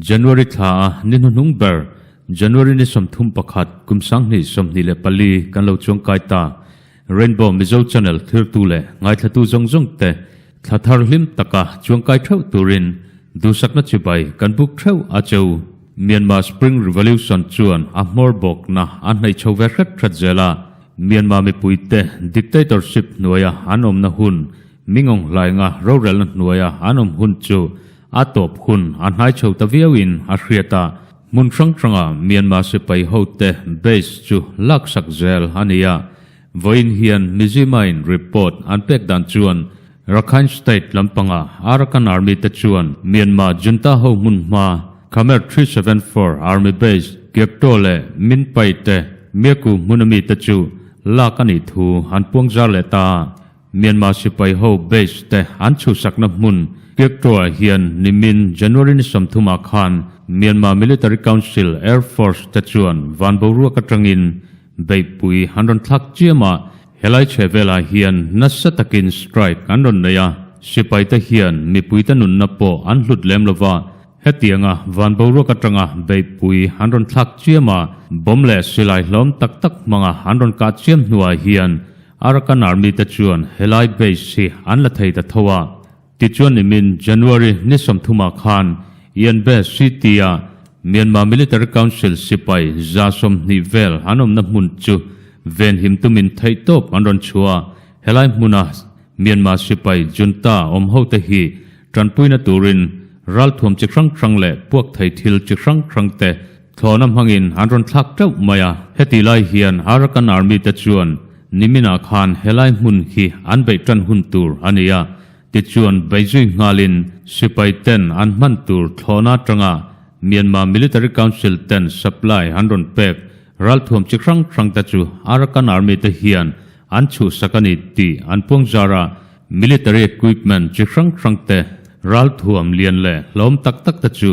January thla a ni hnuhnung ber, January ni sawmthum pakhat, kum sanghnih, sawmhnih leh pali kan lo chuang kai ta. Rainbow Mizo Channel thirtu leh ngaithlatu zawng zawng te thla thar hlim taka chuang kai theuh turin duhsakna chibai kan buk theuh a cheu. Myanmar Spring Revolution chuan a hmawr bawkna a hnaih chho ve hret hret zel a, Myanmar mipui te dictatorship hnuaia an awmna hun Mingawng hlainga rorelna hnuaia an awm hun chu a tawp hun a hnai chho ta viauin a hriat a. Hmun hrang hrangah Myanmar sipai hote base chu laksak zel a ni a. Vawiin hian Mizuima-in report an pek dan chuan Rakhine State lampanga Arakan Army te chuan Myanmar Junta ho hmunhma Khmer three seven four Army Base Gyaktaw leh Min Pai te Myaku hmuna mite chu lak a nih thu an puang zar leh ta a. Myanmar sipai ho base te an chhusakna hmun Kyaktraw-ah hian nimin January ni sawmthumah khan Myanmar Military Council, Air Force, te chuan van boruak atangin beihpui an rawn thlak chiam a, helai chhe velah hian nasa takin strike an rawn nei a, sipai te hian mipuite nunna pawh an hlut lem lo va, hetianga van boruak atanga beihpui an rawn thlak chiam a, bomb leh silai hlawm tak tak hmanga an rawn kah chiam hnuah hian Arakan Army te chuan helai base hi an la thei ta tho a, tichuan nimin January ni sawmthumah khan Ian Base hi tia Myanmar Military Council sipai za sawm hnih vel an awmna hmun chu venhim tumin theih tawp an rawn chhuah a, helai hmuna Myanmar sipai junta awm hote hi tanpuina turin ralthuam chi hrang hrang leh puakthei thil chi hrang hrangte Thlawna hmangin an rawn thlak teuh mai a, heti lai hian Arakan Army te chuan niminah khan helai hmun hi an beih tan hun tur a ni a, tichuan beihzui nghalin sipai ten an hman tur thlawna atanga Myanmar Military Council ten supply an rawn pek ralthuam chi hrang hrang te chu Arakan Army te hian an chhuhsak a ni tih an puang zar a, military equipment chi hrang hrang te, ralthuam lian leh hlawm tak tak te chu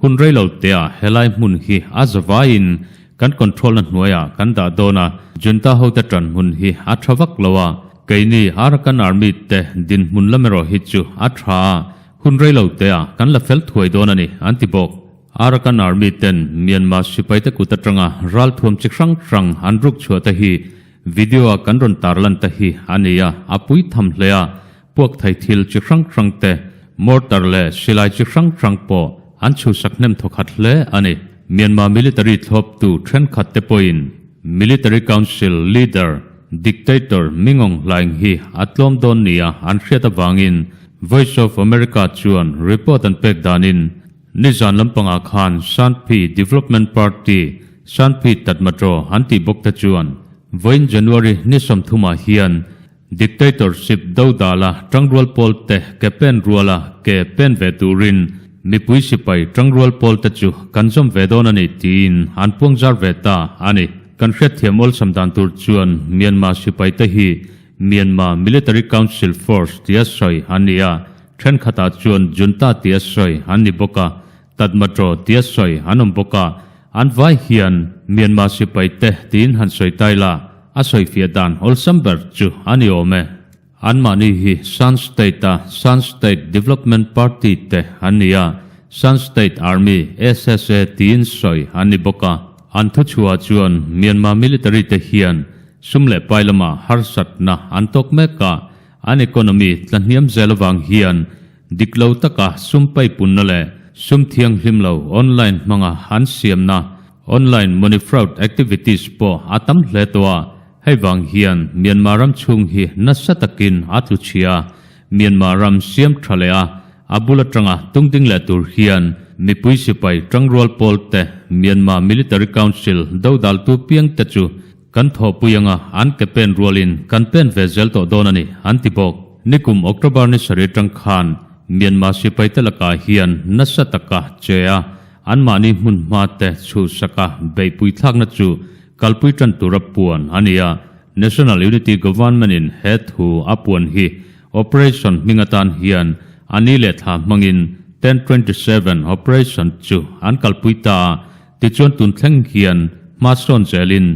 Hun rei lo tea helai hmun hi a za vaiin kan controlna hnuaiah kan dah dawn a, Junta hote ṭan hmun hi a ṭha vak lo a, keini Arakan Army te dinhmun lam erawh hi chu a ṭha a, hun rei lo tea kan la fel thuai dawn a ni, an ti bawk. Arakan Army ten Myanmar sipaite kut aṭanga ralthuam chi hrang hrang an rukchhuah te hi video-a kan rawn tarlan te hi a ni a, a pui tham hle a, Puakthei thil chi hrang hrang te, mortar leh silai chi hrang hrang pawh an chhusak hnem thaw khat hle a ni. Myanmar military thlawptu thenkhat te pawhin Military Council leader, dictator Ming Aung Hlaing hi a tlawm dawn nia an hriat avangin Voice of America chuan report an pek danin nizan lampangah khan Sanphi Development Party, Sanphi Tatmadaw an tih bawk te chuan vawiin January hnisam thumah hian Dictatorship do dala tangrual pawl te ke pen ruala ke pen ve turin mipui sipai tangrual pawl te chu kan zawm ve dawn a ni tiin an puang zar ve ta a ni. Kan hriatthiam awlsam dan tur chuan Myanmar sipai te hi Myanmar Military Council Force tia sawi an ni a, thenkhatah chuan Junta tia sawi an ni bawk a, Tatmadaw tia sawi an awm bawk a, an vai hian Myanmar sipai te tiin han sawi tai la, a sawifiah dan awlsam ber chu a ni awm e. Anmahni hi Shan State-a Shan State Development Party te an ni a, Shan State Army, SSA, tiin sawi an ni bawk a, an thu chhuah chuan Myanmar military te hian sum leh pai lamah harsatna an tawk mek a, an economy tlahniam zel avang hian Dik lo taka sumpai punna leh sum thianghlim lo online hmanga an siamna, online money fraud activities, pawh a tam hle tawh a, hei vang hian Myanmar ram chhung hi nasa takin a tlu chhi a, Myanmar ram siam tha leh a, a bul atanga tung ding leh tur hian mipui sipai tangrual pawl te, Myanmar Military Council dodaltu piang te chu Kan thawhpui anga an ke pen rualin kan pen ve zel tawh dawn a ni, an ti bawk. Nikum October ni sarih atang khan Myanmar sipaite lakah hian nasa taka che a, anmahni hmunhma te chhuhsaka beihpui thlakna chu kalpui tan tura puan a ni a. National Unity Government-in he thu a puan hi Operation hming atan hian a ni leh thla hmangin Tent twenty seven Operation chu an kalpui ta a, Tichuan tun thleng hian hmasawn zelin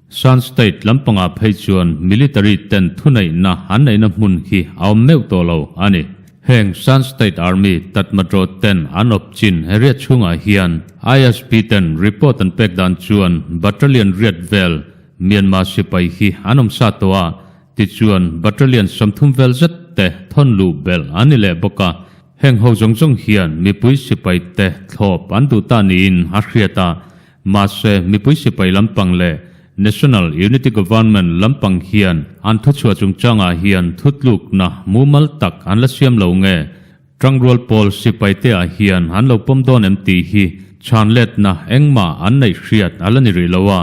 Shan State lampangah phei chuan military ten thuneihna an neihna hmun hi a awm meuh tawh lo a ni. Heng Shan State Army Tatmadaw ten an awp chin riat chhungah hian ISP ten report an pek dan chuan Battalion riat vel Myanmar sipai hi an awm sa tawh a, tichuan Battalion sawmthum vel zet te thawn luh belh a ni leh bawk a. Heng ho zawng zawng hian mipui sipai te thlawp an duh ta niin a hriat a, mahse mipui sipai lampang leh National Unity Government lampang hian an thuchhuah chungchangah hian thutlukna mumal tak an la siam lo nge? Tangrual pawl sipaite ah hian an lo pawm dawn em tih hi chhanletna engmah an neih hriat a la ni rih lo a,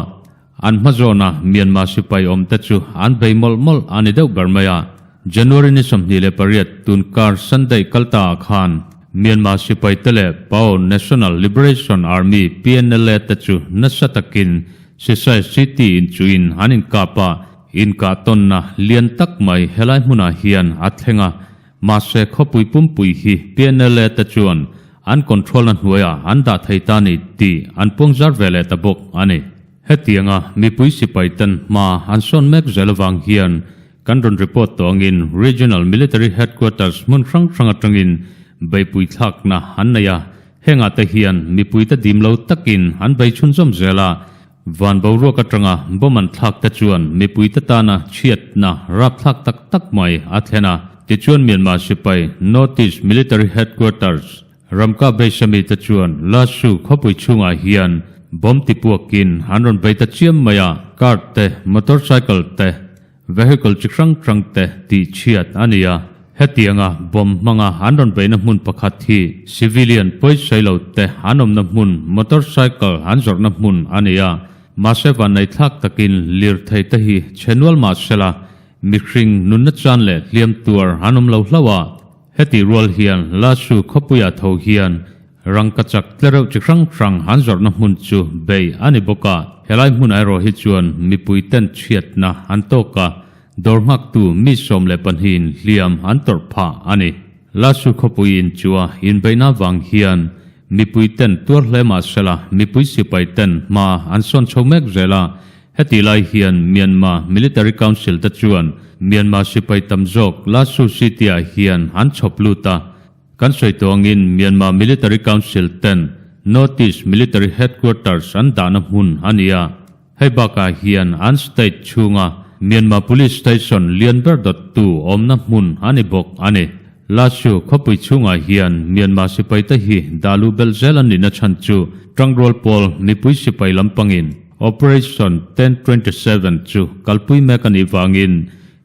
An hma zawna Myanmar sipai awmte chu an bei mawlh mawlh a ni deuh ber mai a. January ni sawmhnih leh pariat tun kar Sunday kal ta ah khan Myanmar sipai te leh Pao National Liberation Army, PNLA, te chu nasa takin Sisai City inchuin an inkap a, inkah tawnna lian tak mai helai hmunah hian a thleng a. Mahse khawpui pumpui hi PNLA te chuan an control-na hnuaiah an dah thei ta a ni tih an puangzar ve leh ta bawk a ni. Hetianga mipui sipai ten hma an sawn mek zel avang hian kan rawn report tawh angin Regional Military Headquarters hmun hrang hrang atangin beipui thlakna an nei a, hengah te hian mipuite dimlo takin an bei chhunzawm zel a, Van boruak atanga bomb an thlak te chuan mipui te tana chhiatna rapthlak tak tak mai a thlen a. Tichuan Myanmar sipai Northeast Military Headquarters ramkah beisha mi te chuan Lashu khawpui chhungah hian bomb tipuak in an rawn bei ta chiam mai a, car te, motorcycle te, Vehicle chi hrang hrang te tih chhiat a ni a, hetianga bomb hmanga an rawn beihna hmun pakhat hi civilian pawisailo te an awmna hmun motorcycle an zawrhna hmun a ni a, mahse vannei thlak takin lirthei te hi chhe nual mah sela mihring nunna chan leh hliam tuar an awm lo hlauh a, heti rual hian Lasu khawpuia tho hian Rangka chak tlereuh chi hrang hrang han zawrhna hmun chu Bay a ni bawk a, helai hmun ai rawh hi chuan mipui ten chhiatna an tawk a, dawr nghaktu mi sawm leh pahnihin hliam an tawrh phah a ni. Lasur khawpui in chu a inbeihna vang hian mipui ten tuar hle mah sela mipui sipai ten hma an sawn chho mek zel a, heti lai hian Myanmar Military Council te chuan Myanmar sipai tam zawk Lasur city ah hian an chhawp lut a, Kan sawihtawngin Myanmar Military Council ten Northeast Military Headquarters an dahna hmun a ni a, hei bakah hian an state chhunga Myanmar Police Station lian ber dawt tu awmna hmun a ni bawk a ni. Lasu khawpui chhungah hian Myanmar sipaite hi dah luh belh zel an nih na chhan chu Tangrawal pawl mipui sipai lampangin Operation ten twenty seven chu kalpui mek a nih vangin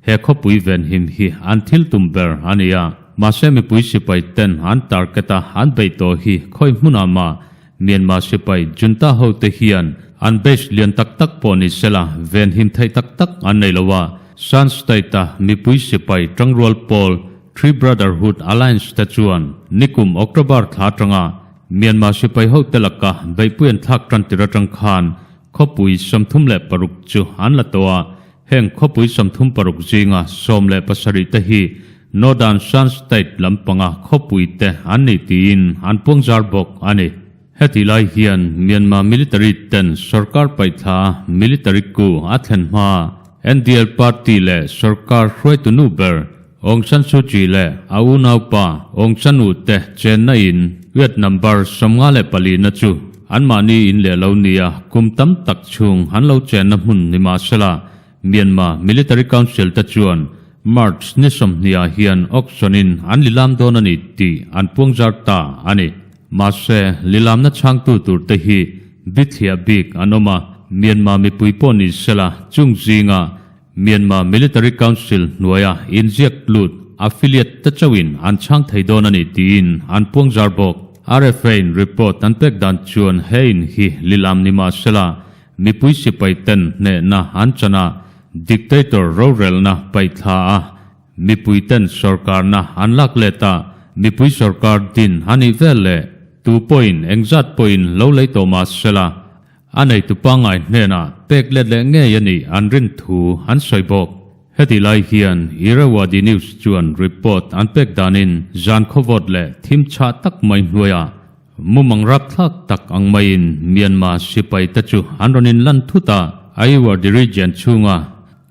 He khawpui ven him hi an thil tum ber a ni a, mahse mipui sipai ten an target a an beih tawh hi khawi hmunah mah Myanmar sipai junta ho te hian an base lian tak tak pawh ni sela ven him theih tak tak an nei lo a, Shan state a mipui sipai tangrual pawl Three Brotherhood Alliance te chuan nikum October thla atanga Myanmar sipai ho te laka beihpuiin thlak tan tir atang khan Khawpui sawmthum leh paruk chu an la tawh a, heng khawpui sawmthum paruk zinga sawm leh pasarih te hi Northern Shan State lampanga khawpui te an ni tiin an puangzar bawk a ni. Heti lai hian Myanmar military ten sawrkar paih thla military ku a thlen hma NDL party leh sawrkar hruaitunu ber Aung San Suu Kyi leh a unaupa Aung San U Te chenna in Vietnam bar sawmnga leh pali na chu anmahni in leh lo ni a, kum tam tak chhung an lo chenna hmun ni mah se la, Myanmar Military Council te chuan March ni sawmhnih ah hian auction in an lilam dawn a ni tih an puangzar ta a ni. Mahse, lilamna chhangtu tur te hi bithliah bik an awm a, Myanmar mipui pawh ni se la, chung zingah Myanmar Military Council hnuaia inziak lut affiliate te chauhin an chhang thei dawn a ni tiin an puangzar bawk. RFA-in report an pek dan chuan he in hi lilam ni mahsela mipui sipaiten hnehna an chana dictator rorelna paih thla a, mipuiten sorkarna an lak let a, mipui sorkar din a nih vel leh tu pawhin engzat pawhin lo lei tawh mahsela A neitu pangngai hnena pek let leh ngei a nih an rin thu an sawi bawk. Heti lai hian Irrawaddy News chuan report an pek danin zan khawvawt leh thim chhah tak mai hnuaia mumang rapthlak tak ang maiin Myanmar sipai te chu an rawn inlan thut a, Ayeywardy Region chhunga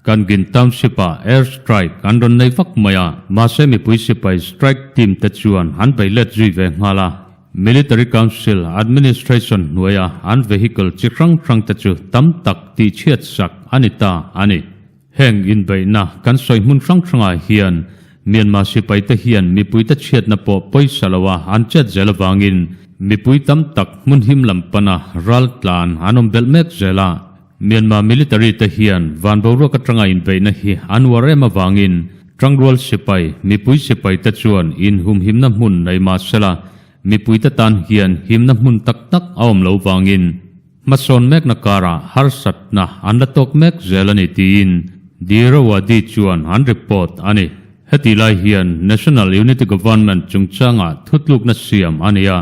Kangin Township-a air strike an rawn nei vak mai a, mahse mipui sipai strike team te chuan an bei let zui ve nghal a, Military Council Administration hnuaia an vehicle chi hrang hrang te chu tam tak tihchhiat sak a ni ta a ni. Heng inbeihna kan sawi hmun hrang hrangah hian Myanmar sipai te hian mipui te chhiatna pawh pawisa lo a an chet zel avangin mipui tam tak hmun him lam pana ral tlan an awm belh mek zel a, Myanmar military te hian van boruak atanga inbeihna hi an uar em avangin Trangrual sipai, mipui sipai te chuan inhum himna hmun nei mahsela, mipui te tan hian himna hmun tak tak a awm lo vangin hmasawn mekna karah harsatna an la tawk mek zel a ni tiin Dirawadi chuan an report a ni. Heti lai hian National Unity Government chungchangah thutlukna siam a ni a,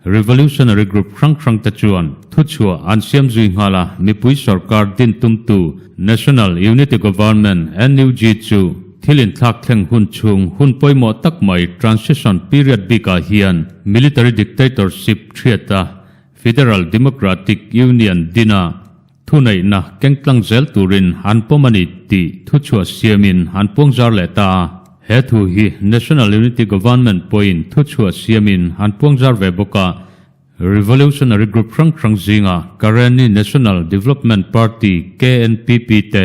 Revolutionary group hrang hrangte chuan thuchhuah an siam zui nghal a, mipui sorkar din tumtu National Unity Government, NUG, chu thil inthlak thleng hun chhung hun pawimawh tak mai transition period bikah hian military dictatorship hriata Federal Democratic Union dina Thuneihna kengtlang zel turin an pawm a ni tih thuchhuah siamin an puang zar leh ta a. He thu hi National Unity Government pawhin thuchhuah siamin an puang zar ve bawk a, revolutionary group hrang hrang zinga Karenni National Development Party, KNPP, te,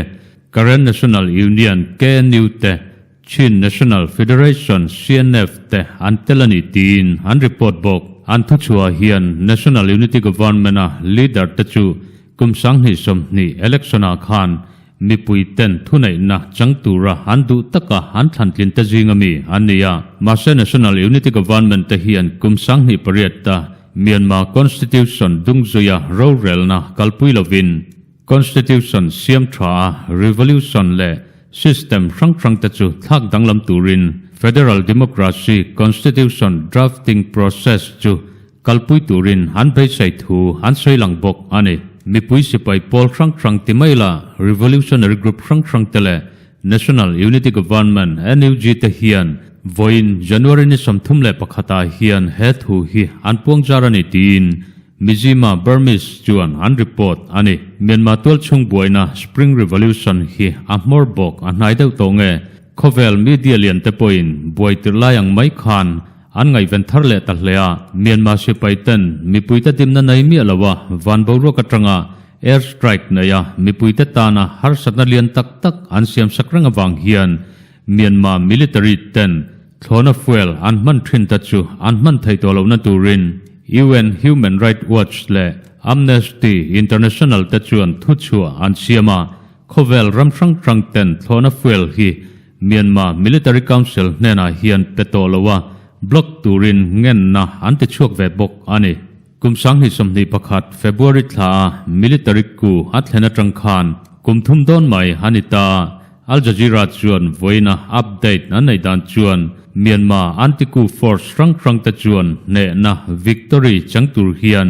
Karen National Union, KNU, te, Chin National Federation, CNF, te an tel a ni tiin an report bawk. An thu chhuah hian National Unity Government-a leader te chu kum sanghnih sawmhnih election-ah khan mipuiten thuneihna chang tura an duh taka an thlantlin te zing a mi an ni a. Mahse National Unity Government te hian kum sanghnih pariat a Myanmar Constitution dungzui-a rorelna kalpui lovin, Constitution siam tha a, Revolution leh System hrang hrang te chu thlak danglam turin Federal Democracy Constitution Drafting Process chu kalpui turin han beisei thu han sawi lang bawk a ni. Mipui sipai pawl hrang hrang ti mai la Revolutionary Group hrang hrang te leh National Unity Government, NUG, te hian vawiin January ni sawmthum leh pakhat ah hian he thu hi an puang zar a ni tiin Mizima, Burmese, chuan an report a ni. Myanmar tual chhungbuaina Spring Revolution hi a hmawr bawk a hnai deuh tawh nge? Khawvel media lian te pawhin buaitirh lai ang mai khan an ngaihven thar leh ta hle a, Myanmar sipai ten mipuite dimna nei miah lo a van boruak atanga Air strike neia mipuite tana harsatna lian tak tak an siamsak reng avang hian Myanmar military ten thlawna fuel an hman thin ta chu an hman thei tawh lohna turin UN Human Right Watch leh Amnesty International te chuan thu chhuah an siam a, khawvel ram hrang hrang ten thlawna fuel hi Myanmar military council hnenah hian pe tawh loh a block turin ngenna an ti chhuak ve bawk a ni. Kum sanghnih sawmhnih pakhat February thla a military coup a thlen atang khan kum thum dawn mai a ni ta a, Al Jazeera chuan vawiina update an neih dan chuan Myanmar anti-coup force hrang hrang te chuan hnehna victory chang tur hian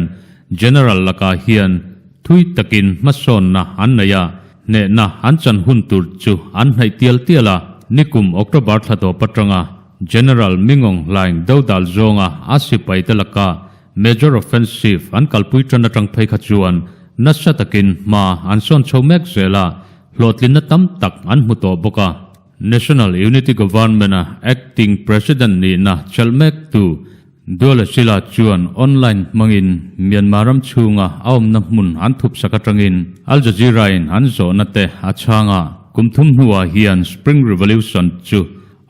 General lakah hian thui takin hmasawnna an nei a, hnehna an chan hun tur chu an hnaih tial tial a, nikum October thla tawp atanga. General Min Aung Hlaing deuh dal zawnga a sipai te laka Major Offensive an kalpui tan atang phei kha chuan nasa takin hma an sawn chho mek zel a, hlawhtlinna tam tak an hmu tawh bawk a. National Unity Government-a Acting President nihna chelh mek tu Duala Sila chuan online hmangin Myanmar ram chhunga a awmna hmun an thupsak atangin Al Jazeera-in an zawhna te a chhang a. Kum thum hnuah hian Spring Revolution chu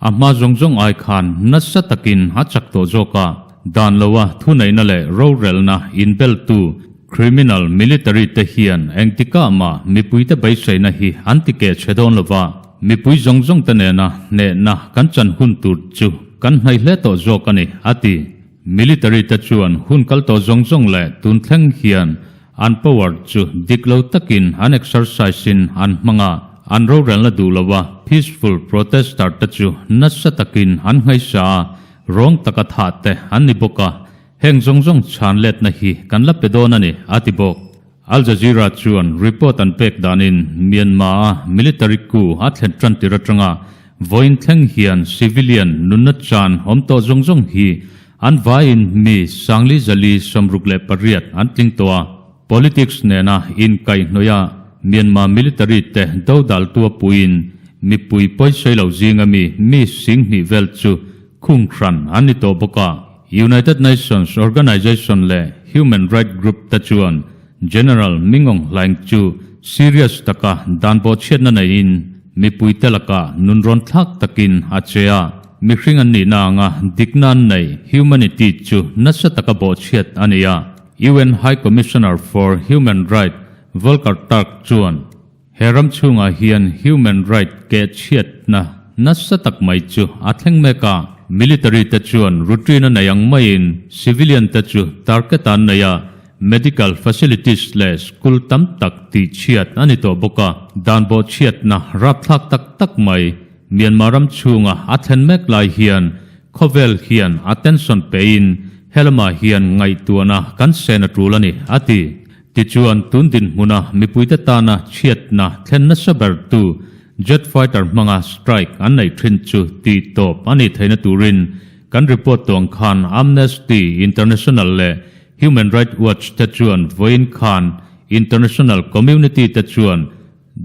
A hma zawng zawng ai khan nasa takin a chak tawh zawk a, dan lo a thuneihna leh rorelna inbeltu criminal military te hian engtikah mah mipuite beiseina hi an ti keh che dawn lova, mipui zawng zawng te nena hnehna kan chan hun tur chu kan hnaih hle tawh zawk a ni, a ti. Military te chuan hun kal tawh zawng zawng leh tun thleng hian an power chu dik lo takin an exercise in an hmang a, an rorelna duh lova peaceful protester te chu nasa takin an ngaisa a, rawng taka thah teh an ni bawk a, heng zawng zawng chhan letna hi kan la pe dawn a ni, a ti bawk. Al Jazeera chuan report an pek danin Myanmar-a military coup a thlen tan tir atanga vawiin thleng hian civilian nunna chan awm tawh zawng zawng hi an vaiin mi sangli zali sawmruk leh pariat an tling tawh a, politics nena inkaihnawia Myanmar military te dodal tuapuiin mipui pawisailo zinga mi mi sing hnih vel chu khunghran an ni tawh bawk a. United Nations Organization leh Human Right Group te chuan General Min Aung Hlaing chu serious taka dan pawh chhiatna neiin mipuite lakah nunrawn thlak takin a che a, mihring an nihna anga dikna an neih humanity chu nasa taka bawhchhiat a ni a, UN High Commissioner for Human Right Volker Turk chuan. He ram chhungah hian human right kehchhiatna nasa tak mai chu a thleng mek a. Military te chuan routine a nei ang maiin civilian te chu target an nei a, medical facilities leh school tam tak tihchhiat a ni tawh bawk a. Dan bawhchhiatna rapthlak tak tak mai Myanmar ram chhunga a thlen mek lai hian khawvel hian attention peiin helamah hian ngaihtuahna kan sen a tul a ni, a ti. Tichuan, tun dinhmuna mipuite tana chhiatna thlen nasa bertu Jet Fighter hmanga strike an nei thin chu tihtawp a ni theihna turin kan report tuang khan Amnesty International leh Human Right Watch te chuan vawiin khan international community te chuan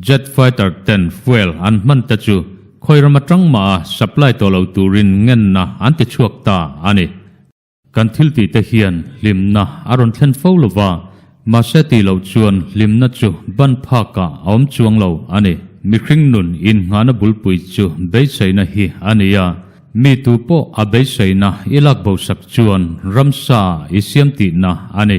Jet Fighter ten fuel an hman te chu khawiram atangmaha supply tawh lo turin ngenna an tichhuak ta a ni. Kan thiltihte hian hlimna a rawn thlen fo lo va, mahse tih loh chuan hlimna chu ban phakah a awm chuang lo a ni. Mihring nun innghahna bulpui chu beiseina hi a ni a, mi tu pawh a beiseina i lak bosak chuan ramsa i siam tihna a ni.